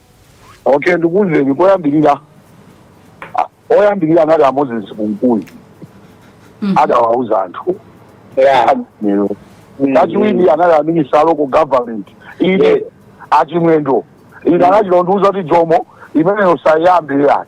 Okay, ndikuwuzeni koyambirira a- oyambirira anali a Moses Kunkuyu adawauza anthu Yeah. lero Mm. achiwiri anali a minister a local government ine Yes. a Chimwendo ine anachita kundiuza kuti Jomo imeneyo usayambe ayi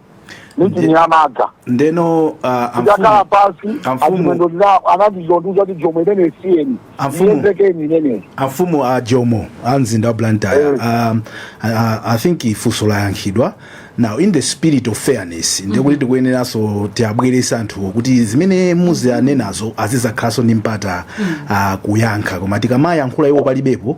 michini yamadza ndeno uh, ndakhala amfumu pansi Amfumu. achimwendo ndina- anazondiuza kuti jomo imeneyi siyeni Amfumu. iyezekeni imeneyi amfumu a jomo a mzinda wa blantyre Eh. um, I, I- i think funso layankhidwa now in the spirit of fairness ndikuti tikuyeneranso tiabwerese anthuwo kuti zimene muziwanenazo azizakhalanso ndi mpata uh, kuyankha koma tikamayankhula iwo palibepo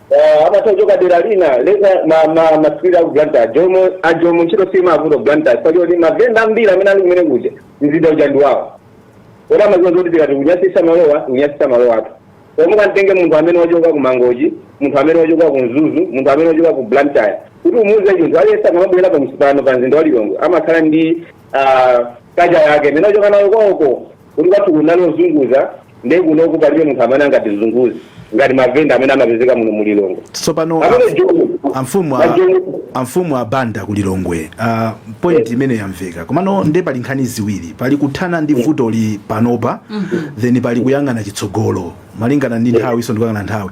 Ah, amatha kuchoka dera lina leza ma ma masukulu aku Blantyre ajomo ajomo ntchito simavuta Blantyre kwa choti mavenda ambiri amene ali kumene kuja mzinda uja ndi wawo oti amaziwa zoti tikati kunyasisa malowa kunyasisa malo athu omwe kantenge munthu amene wachoka ku Mangochi munthu amene wachoka ku Mzuzu munthu amene wachoka ku Blantyre kuti umuuze chinthu aliyense akamabwera pa mzi- pano pa mzinda wa Lilongwe amakhala ndi ah, culture yake imene wachoka nayo kwawoko Kuti kwathu kunali ozunguza nde kunoku palibe munthu amene angatizunguze ngati mavenda amene amapezeka muno mu Lilongwe. Tsopano Pamene amf- Joni- amfumu a- Joni- amfumu a Banda ku Lilongwe uh, point imene yamveka komano nde pali nkhani ziwiri pali kuthana ndi vutoli panopa then pali kuyang'ana chitsogolo malingana ndi nthawiso ndikuyang'ana nthawi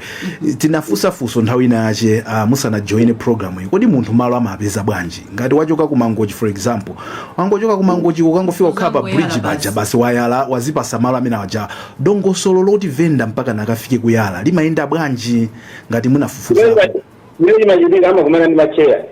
tinafunsa funso nthawi ina yache uh, musanajoine programu iyi kodi munthu malo amapeza bwanji ngati wachoka ku mangochi for example wangochoka ku mangochi ukangofika kukhala pa Uzangoyala bridge basi. paja basi wayala wazipasa malo amene aja dongosolo loti venda mpakana akafike kuyala limayenda bwanji ngati munafufuza chimene chimachitika amakumana ndi macheya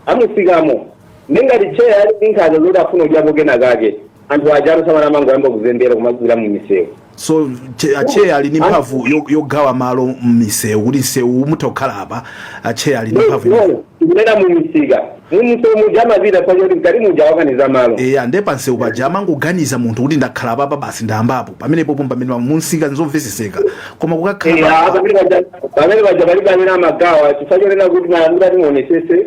amusikamo nde ngati cheya ali ndi nkhaza zoti afuna kudyapo kena kake anthu aja alusamana amangoyamba kuzembera kumagwira mu misewu so che- acheya ali ndi mphamvu yo- yogawa malo mmisewu kuti msewu mutha kukhala apa acheya ali ndi mphamvu imene. kunena mu misika mu misewu muja amapita paja kuti mkati muja awakaniza malo eya nde pansewu paja amangoganiza munthu kuti ndakhala papa basi ndayambapo pamenepo pomwe pamene munsika nzomveseseka koma kukakhala Eya, pa- pamene paja- pamene paja palibe amene amagawa chifukwa chonena kuti malandira timuonesese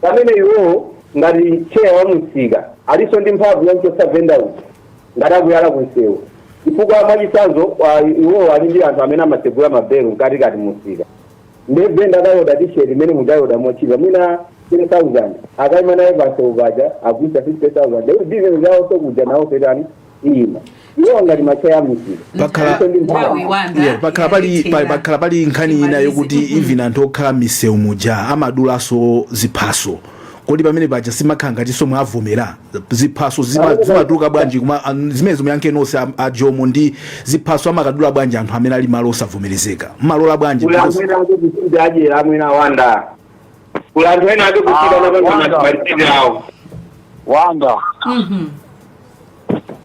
pamene iwowo ngati tcheya wa mumsika alinso ndi mphamvu yomchotsa venda uja ngati akuyala kunsewu chifukwa mwachitsanzo ah, iwowo ali ndi anthu amene amatsegula mabelu mkatikati mumsika nde venda akaoda tisheti mmene muja ayioda motchipa mwina 10000 akaima naye pansewu paja agulitsa 50000 nde bizinesi yawoso kuja nawo fetani ino iwo ngati macheya amusika Pakhala- Ife ndi mphamvu. Nthawi wanda, Yeah, pakhala pali pa- yalephera. pakhala pali nkhani ina Imalize. yokuti Mm-mm. even anthu okhala m'misewu muja amadulaso ziphaso kodi pamene paja simakhala ngatinso mwawavomera ziphaso zima- zimatuluka bwanji kuma an- zimenezo muyankhe nonse a- a jomo ndi ziphaso amakadula bwanji anthu amene ali malo osavomerezeka mmalola bwanji Because- ulamwina kuti kuti adyera amwina Banda kula anthu ena ake kuchita napanga malitini awo wanga Mhm.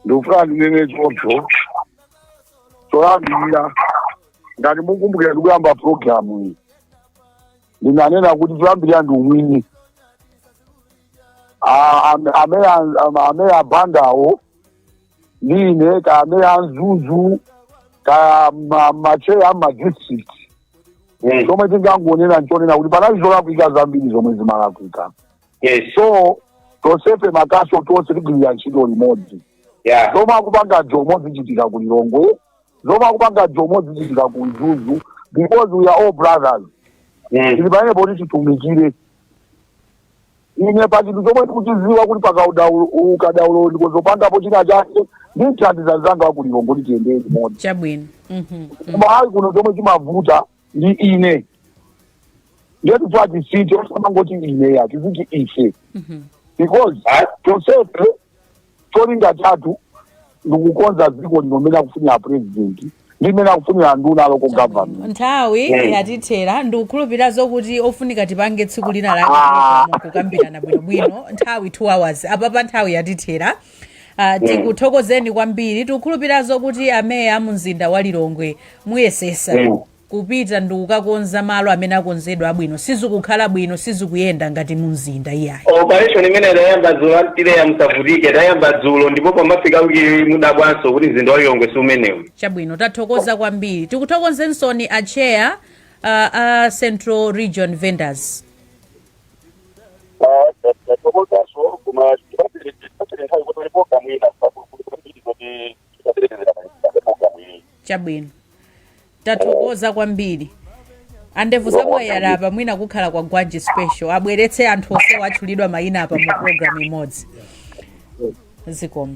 ndikufuna ndinene choncho choyambirira ngati mukumbukira ndikuyamba programu iyi ndinanena kuti choyambirira ndi umwini A- am- amene an- am- amene abandawo ndine kaya ameya a mzuzu kaya ma- macheya a madistrict Mm. chomwe tingangonena nchonena kuti panali zolakwika zambiri zomwe zimalakwika Yes. so tonsefe makaso tonse tigwirire ntchito limodzi Yeah. zomwe akupanga jomo zizichitika ku lilongwe zomwe akupanga jomo zizichitika ku mzuzu because we are all brothers Mm. tili pamenepo kuti titumikire Ine pa chinthu chomwe ndikuchidziwa kuti pakaudaulo ukadaulo ndiko zopangapo china chake ndimthandiza mzanga wa ku Lilongwe kuti tiyendere limodzi chabwino Mhm. koma ayi kuno chomwe chimavuta ndi ine ngetu twati site osamangoti ine iyayi tiziti ife because tonsefe cholinga chathu ndikukonza dziko lino mmene akufunira apurezidenti ndi mmene akufunira anduna a local government nthawi Eh. yatithera ndikukhulupirira zokuti ofunika tipange tsiku lina lake Ah. pano kukambirana bwinobwino nthawi 2 hours apapa nthawi yatithera Uh, tikuthokozeni kwambiri tikukhulupirira zokuti ameya a mumzinda wa lilongwe muyesesa Mm. kupita ndikukakonza malo amene akonzedwa abwino sizikukhala bwino sizikuyenda ngati mumzinda iyayi. Operation imene tayamba dzulo antileya musavutike tayamba dzulo ndipo pomafika wiki mudabwaso kuti mzinda wa Lilongwe si umenewo. Chabwino tathokoza kwambiri tikuthokozensoni a chair uh, a Central Region Vendors. tathokozaso koma tipatseni nthawi kuti pali programu ina kuti Tikaperekezera pa pa programu iyi. chabwino tathokoza kwambiri andevu zamwayala apa mwina kukhala kwa gwanji special abweretse anthu onsewa atchulidwa mayina apa mu programu imodzi zikomo